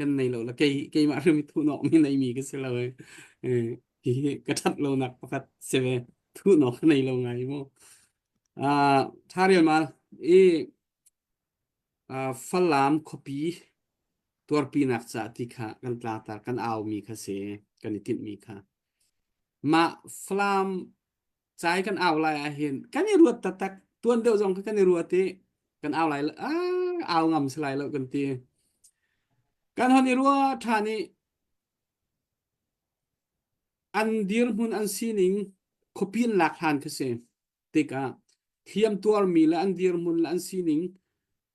kan nei lo la kei keimah rim thuhnawh mi nei mi ka si lo eh hihi ka that lo nak pakhat si ve thuhnawh ka nei lo ngai mo ah tha rial mal i ah, falam khuapi tuarpi nak ca ti kha kan tla ta kan au mi kha si kan i tinh mi kha mah falam Cai kan au lai ah hin kan i ruat taktak tuan deuh zong kha kan i ruat i kan au lai ah au ngam si lai lo kan ti kan hon i ruat ṭhan i an dirhmun an sining khuapi in lak hlan khi si tikah hliamtuar mi le an dirhmun le an sining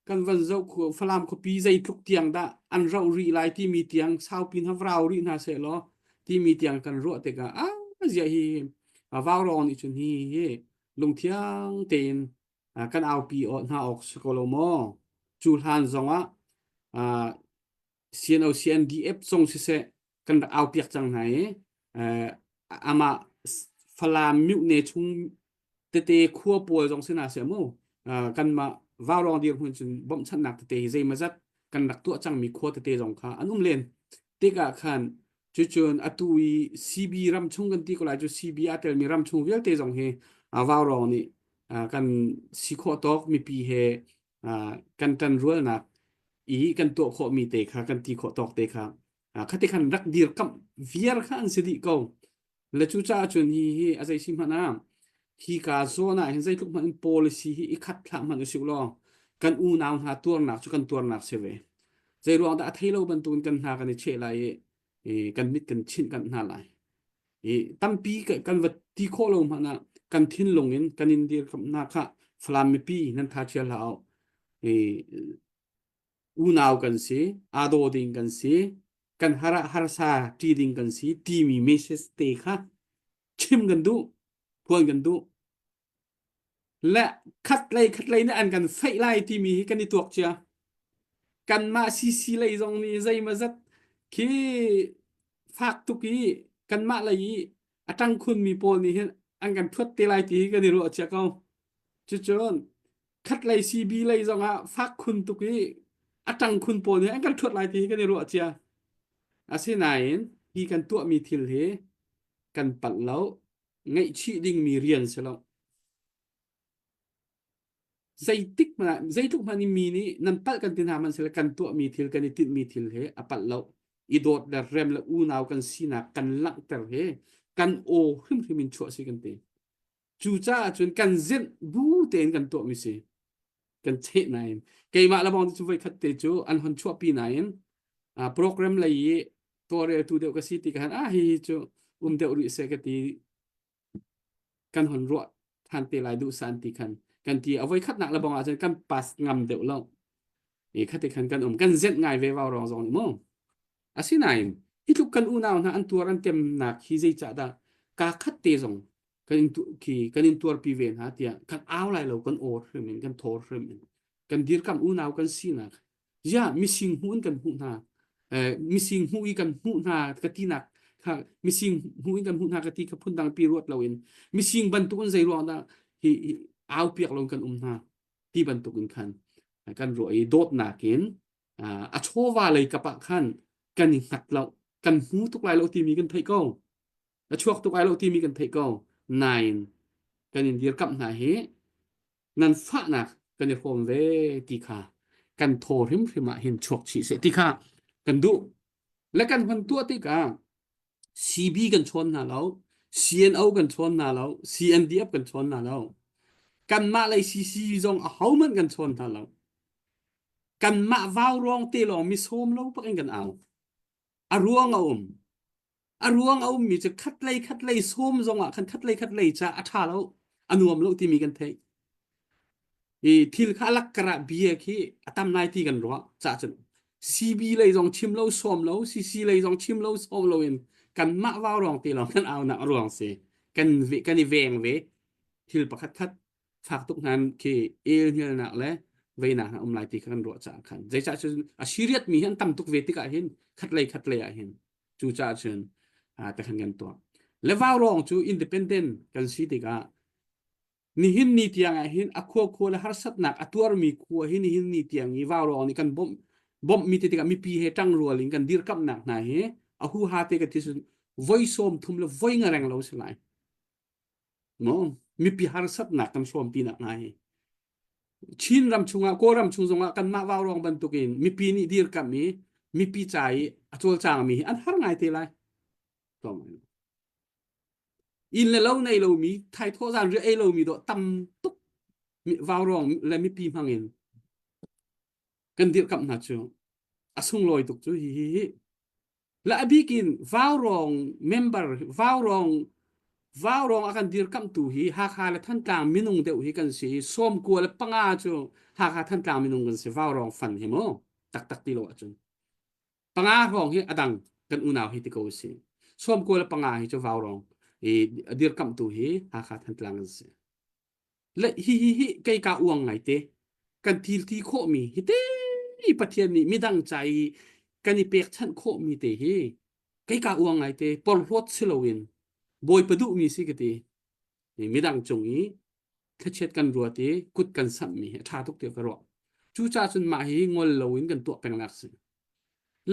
kan van zoh Falam khuapi zeitluk tiang dah an ro ri lai timi tiang saupin ha vrau ri hna se law timi tiang kan ruah tikah a zia hi vaurawng nih cun hi hi lungthiang tein kan aupi hna awk si ko lo maw cu hlan zongah CNOCNDF zong siseh kan rak aupiak cang hna i eh, amah Falam mutne chung tete khua pawl zong sina se mu uh, kanmah vaurong dir hun cun bawmhchannak tete hi zeimazat kan rak tuah cangmi khua tete zong kha an um len tika khan cucun atu i CB ram chung kan ti ko lai cu CB a telmi ram chung vialte zong hi uh, vaurong nih uh, kan si khawh tawk mipi he Ah, kan tan rualnak i kan tuah khawhmi te kha kan ti khawh tawk te kha ah, khati khan rak dirkamh viar kha an si dih ko le cu caah cun hi hi a zei si hmanh ah hi ka zawn ah hin zeitluk hmanh in policy hi i khat thlah hmanh usih law kan unau hna tuarnak cu kan tuarnak si ve zei ruang dah a thei lo bantukin kan hna kan i cheh lai i, i kan mit kan chinh kan hna lai i tampi kan va ti khawh lo hmanh ah kan thinlung in kan in dir hna kha Falam mipi nan tha chia hlah i unau kan si aa daw ding kan si kan har ah harsa ṭi ding kan si timi message te kha chim kan duh phuan kan duh Le khatlei khatlei nih an kan feih lai timi hi kan i tuak cia. Kanmah CC lei zong nih zeimaw zat khi fak tuk i kanmah lei i a ṭang khunmi pawl nih hin an kan thuat te lai ti hi kan i ruah cia ko. Cucun khatlei CB lei zong ah fak khun tuk i a ṭang khun pawl nih an kan thuat lai ti hi kan i ruah cia. Asinain hi kan tuahmi thil hi kan palh lo. Ngaihchih dingmi rian si lo. Zeitik hmanh, zeitluk hmanh i mi nih nan palh kan ti hna hmanh sila kan tuahmi thil kan i tinhmi thil he a palh lo. I dawt le rem le unau kan sinak kan langhter he kan aw hrimhrim in chuah si kan ti. Cucaah cun kan zinh bu tein kan tuahmi si. kan cheh nain keimah le bawng cu voikhat te cu an hon chuahpi nain uh, program lei i tuareltu deuh ka si ti ka han ah hi hi cu um deuh rih se ka ti kan hon ruah than te lai duh san ti khan kan ti a voi khat nak le bong ah cun kan pass ngam deuh lo i khate khan kan um kan zet ngai ve wau rong zong ni mu asinain hi tluk kan unau hna an tuar an tem nak hi zei cha dah ka khat te zong kan in khi kan in tuar pi ve hna tiah kan au lai lo kan or hrim in kan thor hrim in kan dir kam unau kan si nak ya mising hun kan hmu hna eh mising hmu i kan hmu hna ka ti nak kha mising hmu in kan hmu hna ka ti ka phun dang pi ruat lo in mising bantuk in zei ruang da hi au piak lo kan um hna ti bantuk in khan kan ro i dot nakin a chova lei kapa khan kan i nghat lo kan hmu tuk lai lo ti mi kan thei ko na chuak tuk ai lo timi kan theih ko nain kan in dirkamh hna hi nan fahnak kan i hrawm ve ti kha kan thaw hrimhrim ah hin chuak chih seh ti kha kan duh le kan hman tuah tikah CB kan chawn hna lo CNO kan chawn hna lo CNDF kan chawn hna lo kanmah lei CC zong a hohmanh kan chawn hna lo kanmah vau ruang te lawng mi sawm lo bak in kan au a ruang a um a ruang a ummi cu khatlei khatlei sawm zongah khan khatlei khatlei ca a ṭha lo a nuam lo timi kan theih i thil kha alak karah bia khi a tam nai ti kan ruah ca cun CB lei zong chim lo sawm lo CC lei zong chim lo sawm lo in kanmah vau rong ti lawng kan aunak a ruang si kan kan i veng ve thil pakhat khat fak tuk hnan khi el hnialnak le veinak a um lai ti kha kan ruah caah khan zeicah cun a siriat mi hi an tam tuk ve tikah hin khat lei khat lei ah hin cu caah cun te khan kan tuah le vaurawng cu independent kan si tikah nihin ni tiang ah hin a khua khua le harsatnak a tuarmi khua hi nihin ni tiang i vaurawng nih kan bawmh bawmh mi te tikah mipi he tang rual in kan dirkamhnak hna hi a hu ha te ka thi cun voi sawm thum le voi ngareng lo si lai no mipi harsatnak kan hrawm pinak hnga hi Chin ram chungah Kawlram chung zongah kanmah vaurawng bantukin mipi nih dirkamh i mipi ca i a cawlcangmi hi an har ngai te lai inn le lo nei lomi thaithawh zan ri ei lomi dawh tam tuk vaurawng le mipi hmangin kan dirkamh hna cu a sunglawi tuk cu hi hi hi la abik in vaurawng member vaurawng vaurawng a kan dirkamhtu hi Hakha le Thantlang minung deuh hi kan si i sawmkua le panga cu Hakha Thantlang minung kan si vaurawng fan hi mu taktak ti lo ahcun panga hrawng hi adang kan unau hi ti ko si sawmkua le panga hi cu vaurawng i dirkamhtu hi Hakha Thantlang an si Le hihi hi kei ka uang ngai te. Kan thil thi khawhmi hi te i Pathian nih midang ca i kan i pekchanh khawhmi te hi kei ka uang ngai te porhlawt si loin Bawipa duhmi si ka ti. Midang cung i thlachiat kan ruat i kut kan samhmi hi a ṭha tuk tiah ka ruah. Cucaah cun mah hi ngol loin kan tuah peng nak si.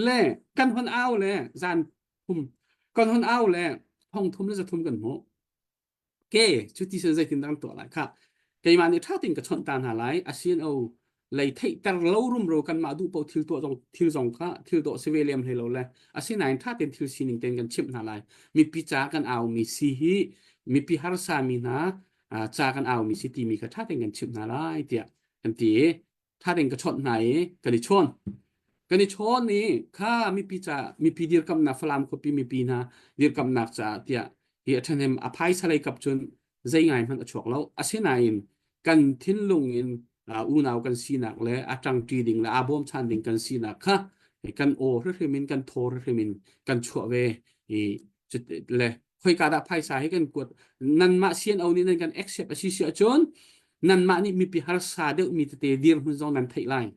Le kan hon au le zan thum kan hon au le thong thum le za thum kan hmuh. Okay, cuti cun zeitindah an tuah lai kha keimah nih ṭha tein ka chawnh ta hna lai. Asino lei theihter lo rumro kanmah duh paoh thil tuah zong thil zong kha thil tuah si ve lem hlei lo le asinain ṭha tein thil sining tein kan chimh hna lai. Mipi ca kan aumi si hi mipi harsa mi hna ah ca kan aumi si timi kha ṭha tein kan chimh hna lai tiah kan ti i that in ka chawnh hna i kan i chawn kan i chawn i kha mipi ca mipi dirkamnak Falam khuapi mipi hna dirkamnak caah tiah hi a ṭhahnem a phaisa lei kap cun zei ngai hmanh a chuak lo asinain kan thinlung in uh, unau kan sinak le a ṭangṭi ding le aa bawmchan ding kan sinak kha kan aw hrimhrim in kan thaw hrimhrim in kan chuah ve i le khoika dah phaisa hi kan kuat nanmah sian o nih nan kan accept asi si ahcun nanmah nih mipi harsa deuh mi tete dir hmun zong nan theih lai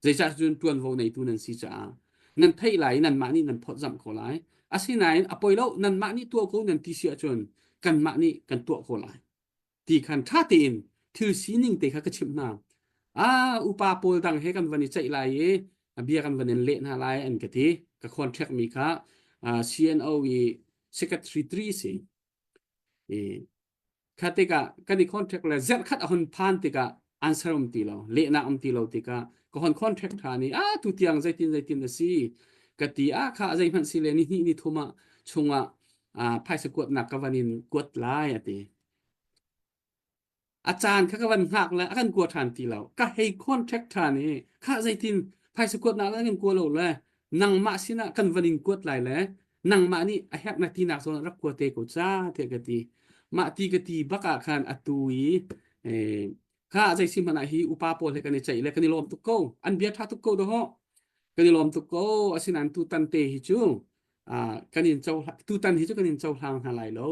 zeicah cun ṭuanvo neitu nan si caah nan theih lai i nanmah nih nan phawtzamh ko lai asinain a poi lo nanmah nih tuah ko nan ti si ahcun kanmah nih kan tuah ko lai ti khan ṭha tein thil sining te kha ka chimh hna. Ah, upa pawl dang he kan van i ceih lai i a bia kan van in leh hna lai an ka ti. Ka khawnṭhekmi kha ah, CNO i secretary tri a si. I kha tikah kan i khawnṭhek le zerh khat a hun phan tikah answer um ti lo, lehnak um ti lo tikah ka hon khawnṭhek ṭhan i, ah, tu tiang zeitin zeitin a si ka ti. Ah, kha zeihmanh si le nihnih ni thum ah chungah ah phaisa kuatnak ka van in kuat lai, a ti. A caan kha ka van hngak le a kan kua ṭhan ti lo. Ka hei contact ṭhan i khah zeitin phaisa kuat nak le kan kua lo le nangmah sinah kan van in kuat lai le nangmah nih a herh na tinak zawn rak kua te ko ca tiah ka ti. Mah ti ka ti bak ah khan a tu i eh, kha zei si hmanh ah hi upa pawl he kan i ceih le kan i lawm tuk ko. An bia ṭha tuk ko dawh. Kan i lawm tuk ko. Asinain tutan te hi cu ah kan in cohlang tutan hi cu kan in cohlang hna lai lo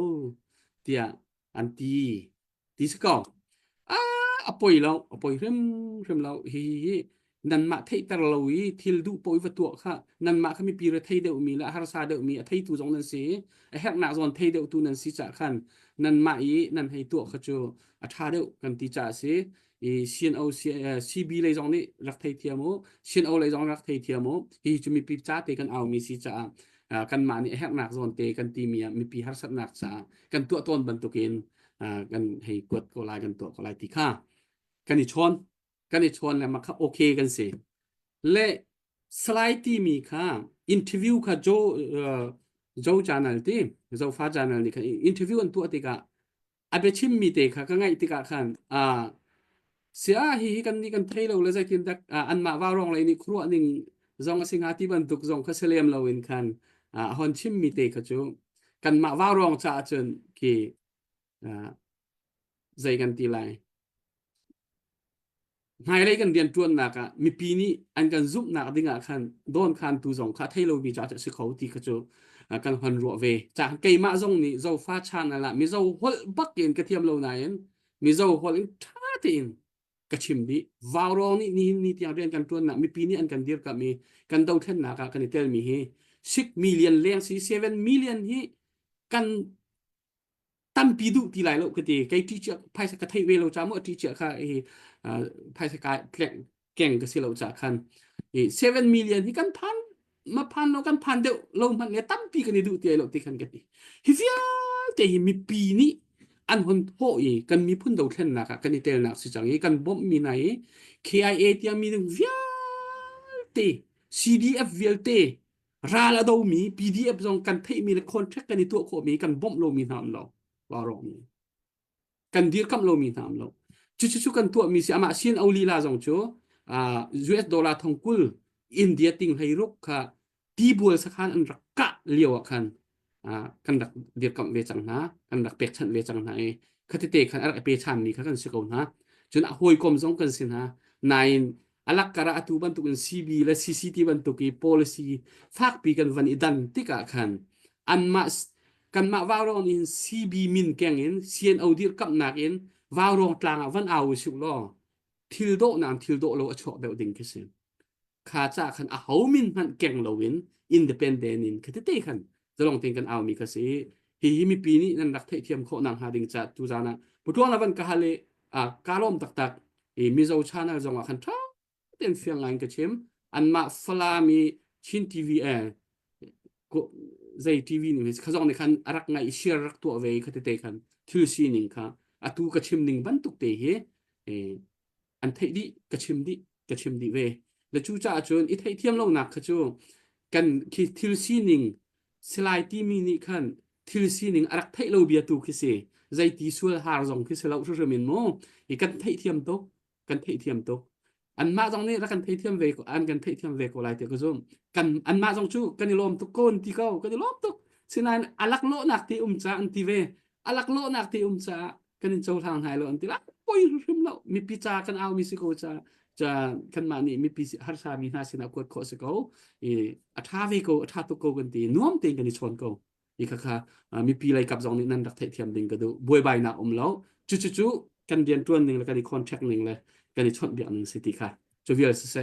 tiah an ti ti si ko ah a poi lo a poi hrim hrim lo hi hi hi nanmah theihter lo i thil duh poi va tuah kha nanmah kha mipi re thei deuhmi le harsa deuhmi a theitu zong nan si i a herhnak zawn thei deuhtu nan si cah khan nanmah i nan hei tuah kha cu a ṭha deuh kan ti ca a si i CNO CB lei zong nih rak thei thiam u CNO lei zong rak thei thiam u hi cu mipi ca te kan aumi si caah kan mah nih herhnak zawn te kan timi ah mipi harsatnak caah kan tuah tawn bantukin kan hei kuat ko lai kan tuah ko lai ti kha kan i chawn kan i chawn le makha okay kan si le slide timi kha interview kha jo jo channel ti zofa channel nih khan interview an tuah tikah a biachimmi te kha ka ngaih tikah khan ah sia hi hi kan nih kan thei lo le zeitin dak ah, anmah vaurong lei nih khuaruah ning zong a si hnga ti bantuk zong kha si lem loin khan ah, a hon chimmi te kha cu kanmah vaurong caah cun ki ah, zei kan ti lai hmailei kan rianṭuannak ah mipi nih an kan zumhnak ding ah khan dawnkhantu zong kha thei lomi ca cu a si kho ti kha cu kan hon ruah ve. Caan keimah zong nih Zofa channel ah Mizo holh bak in ka thiam lo nain Mizo holh in ṭha tein ka chim dih. Vaurawng nih nihin ni tiang rian kan ṭuannak mipi nih an kan dirkamh i kan dothlennak ah kan i telmi hi six million leng si seven million hi kan tampi duh ti lai lo ka ti kei ṭi cia phaisa ka thei ve lo ca mu ṭi cia kha i uh, phaisa ka keng ka si lo ca khan i 7 million hi kan phan ma phan lo kan phan deuh lo hmanh nge tampi kan i duh ti ai lo ti kan ka ti hi vialte hi mipi nih an hon thawh i kan miphun dothlennak ah kan i telnak si cang i kan bawmh mi hna i KIA tiami ding vialte CDF vialte ral a domi PDF zong kan theihmi le contract kan i tuah khawhmi kan bawmh lomi hna an lo lawrongmi kan dirkamh lomi hna an lo cucu cu kan tuahmi si amah sin olila zong cu uh, US dollar thong kul India ting hlei ruk kha tibual sakhan an rak kah lio ah khan kan rak dirkamh ve cang hna, kan rak pekchanh ve cang hna i khatite khan a rak i pe ṭhanmi kha kan si ko hna. Cun a hawikom zong kan si hna. Nain a lakkar ah atu bantukin CB le CCT bantuk i policy fakpi kan van i dan tikah khan anmah kanmah vaurawng nih hin CB min keng in CNO dirkamhnak in vaurawng tlang ah van au usih law thil dawh nain thil dawh lo a chuak deuh ding khi si. kha ca khan a ho min hmanh keng loin independent in khatete khan zalong tin kan aumi ka si hi hi mipi nih nan rak theihthiam khawh nang hnga ding ca tu zan ah putuang lavan ka hale a kalom taktak i mizo channel zong ah khan tha ten fiang ngai ka chim an ma falami chin tv eh zei tv nih khazong ne khan arak ngai share rak tu ve khatete khan thil sining kha atu ka chim ning bantuk te hi an theih dih ka chim dih ka chim dih ve le cu caah cun i theihthiam lonak kha cu kan khi thil sining silai timi nih khan thil sining a rak theih lo bia tu khi si zeiti sual har zong khi si lo hrim in mu i kan theihthiam tuk kan theihthiam tuk anmah zong nih rak kan theihthiam ve an kan theihthiam ve ko lai ti ka zum kan anmah zong cu kan i lawm tuk kon ti ko kan i lawm tuk sinain alak lawhnak ti um ca an ti ve alak lawhnak ti um caah kan in cohlang hai lo an ti la poi hrim lo mipi ca kan au mi si ko ca ca kanmah nih mipi harsa mi hna sinah kuat khawh si ko i a tha ve ko a tha tuk ko kan ti nuam tein kan i chawn ko i kha kha uh, mipi lei kap zong nih nan rak theithiam ding ka du buaibai nak um lo cu cu cu kan rian tuan ning le kan i contract ning le kan i chawnh biak ning si ti kha cu vial si se